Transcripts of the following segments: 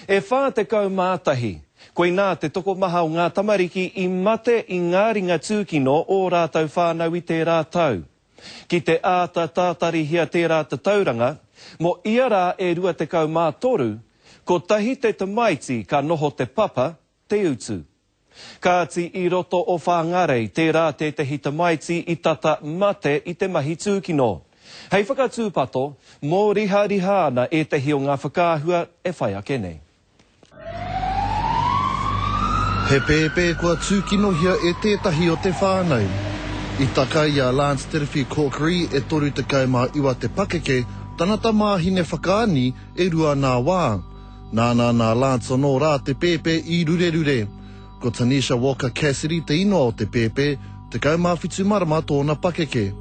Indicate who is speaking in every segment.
Speaker 1: E 41. Koinā te tokomaha o ngā tamariki i mate i ngā ringa tūkino ō rātou whānau i tērā tau. Ki te āta tātarihia tērā tatauranga, mō ia rā e 23, kotahi te tamaiti ka noho te papa, Te Utu. Kāti i roto o Whāngārei tērā tētehi tamaiti i tata mate i te mahi tūkino. Hei whakatūpato, mōrihariha ana ētehi o ngā whakaahua e whai ake nei. He pēpē kua tūkinohia e tētahi o te whānau. I taka i a Lance Tirwhi Corkery, e 39 te pakeke, tana tamāhine whakaani e rua nā wā. Nāna nā Lance anō rā te pēpē i rurerure. Ko Tanisha Walker Cassidy te inoa o te pēpē, 17 marama tōna pakeke.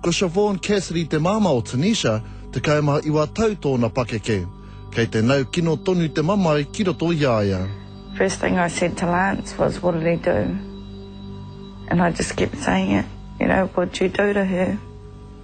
Speaker 1: Ko Siobhan Cassidy te māmā o Tanisha, 19 tau tōna pakeke. Kei te nau kino tonu te mamae ki roto i a ia. First thing I said to Lance was what did he do? And I just kept saying it, you know, what did you do to her?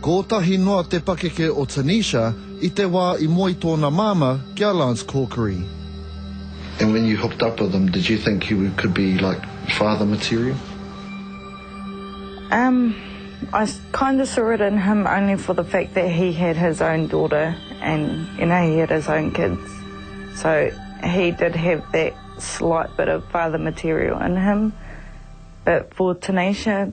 Speaker 1: Kōtahi noa te pakeke o Tanisha i te wā i moe tōna māmā ki a Lance Corkery. And when you hooked up with him did you think he would could be like father material? Umm I kind of saw it in him only for the fact that he had his own daughter and you know he had his own kids so he did have that slight bit of father material in him but for Tanisha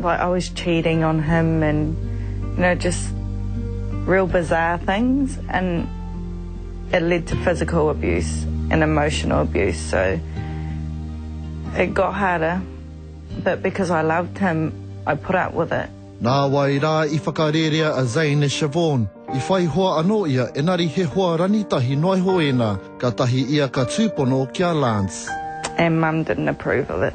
Speaker 1: Like I was cheating on him and you know just real bizarre things and it led to physical abuse and emotional abuse so it got harder but because I loved him I put up with it. Nāwai rā i whakarērea a Zane e Siobhan. I whai hoa anō ia engari he hoa rangitahi noa iho ēnā, kātahi ia ka tūpono ki a Lance. And mum didn't approve of it.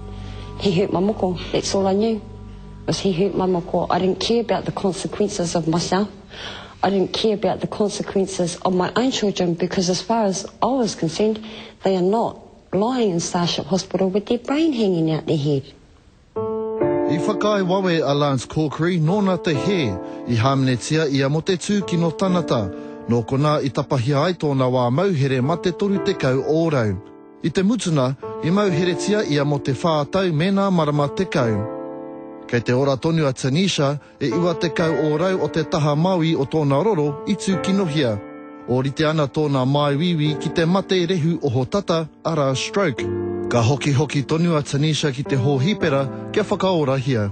Speaker 1: He hurt my moko, that's all I knew, was he hurt my moko. I didn't care about the consequences of myself. I didn't care about the consequences of my own children because as far as I was concerned, they are not lying in Starship Hospital with their brain hanging out their head. I whakaae wawe a Lance Corkery nōna te hē i hāmenetia ia mō te tūkino tanata, nō konā i tapahia ai tōna wā mauhere mate 30 ōrau. I te mutunga, i mau heretia ia mō te whā tau mēnā marama tekau. Kei te ora tonu a Tanisha, e iwa tekau ōrau o te taha maui o tōna roro i tūkinohia. Ōrite ana tōna māuiui ki te mate rehu ohotata, arā, stroke. Ka hokihoki tonu a Tanisha ki te hōhipera kia whakaorahia.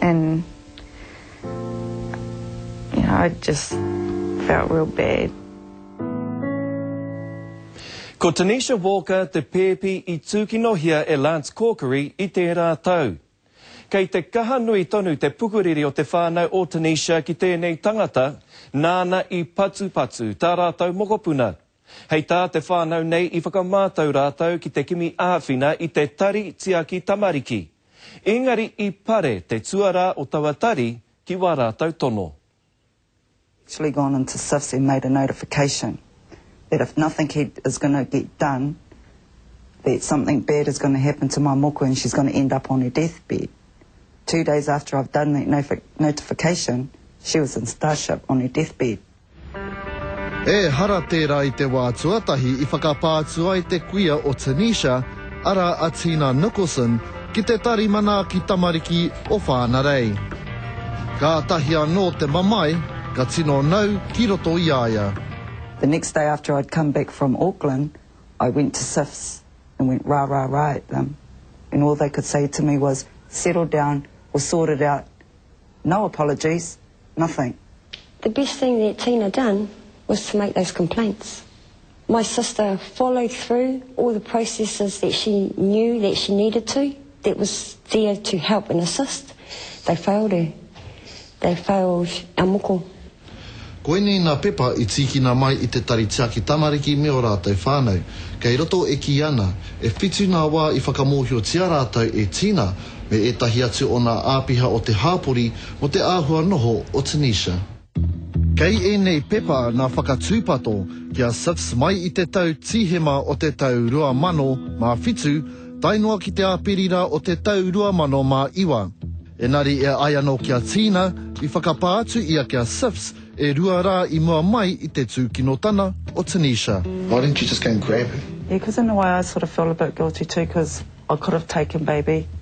Speaker 1: And you know, I just felt real bad. Ko Tanisha Walker te pēpi i tūkinohia e Lance Corkery i tērā tau. Kei te kaha nui tonu te pukuriri o te whānau o Tanisha ki tēnei tangata nāna i patupatu tā rātou mokopuna. Hei tā te whānau nei i whakamātau rātou ki te kimi āwhina i te tari tiaki tamariki. Ēngari i pare te tuarā o taua tari ki wā rātou tono. actually gone into SIFS and made a notification that if nothing he is going to get done that something bad is going to happen to my moku and she's going to end up on her death bed. Two days after I've done that notification she was in Starship on her death bed. Ehara tērā i te wā tuatahi i whakapā atu ai te kuia o Tunisia, arā a Tina Nicholson, ki te tari manaaki tamariki o Whānarei. Kātahi anō te mamae ka tino nau ki roto i a ia. The next day after I'd come back from Auckland, I went to SIFS and went rah rah rah at them and all they could say to me was, settle down, we'll sort it out, no apologies, Nothing. The best thing that Tina done was to make those complaints. My sister followed through all the processes that she knew that she needed to, that was there to help and assist. They failed her. They failed our moko. Koinei ngā pepa i tīkina mai i te Tari Tiaki Tamariki me ō rātou whānau. Kei roto e kī ana, e whitu ngā wā i whakamōhiotia rātou e Tina me ētahi atu o ngā āpiha o te hāpori mō te āhua noho o Tunisia. Kei ēnei pepa ngā whakatūpato ki a Siffs mai i te tau Tīhema o te tau 2007 tae noa ki te Āperira o te tau 2009. Engari e ai anō ki a Tina, i whakapā atu ia ki a Siffs e rua rā i mua mai i te tūkinotana o Tunisia. Why didn't you just go and grab her? Yeah, cause in a way I sort of felt a bit guilty too cause I could have taken baby.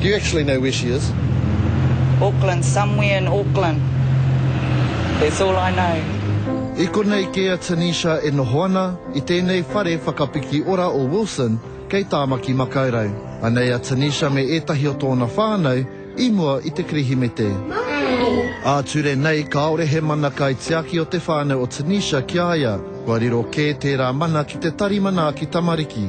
Speaker 1: Do you actually know where she is? Auckland, somewhere in Auckland. That's all I know. I konei kē a Tanisha e noho ana, i tēnei whare whakapiki ora o Wilson, kei Tāmaki Makaurau. Anei a Tanisha me ētahi o tōna whānau i mua i te Kirihimete. Ā-ture nei, kāore he mana kaitiaki o te whānau o Tanisha ki a ia. Kua riro kē tērā mana ki te tari manaaki tamariki.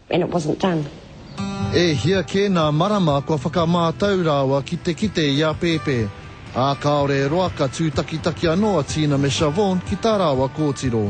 Speaker 1: And it wasn't done. E hia kē nā Marama kua whakamātau rāua ki te kite i a Pēpē, ā, kāore e roa ka tūtakitaki anō a Tina me Shavonne ki tā rāua kōtiro.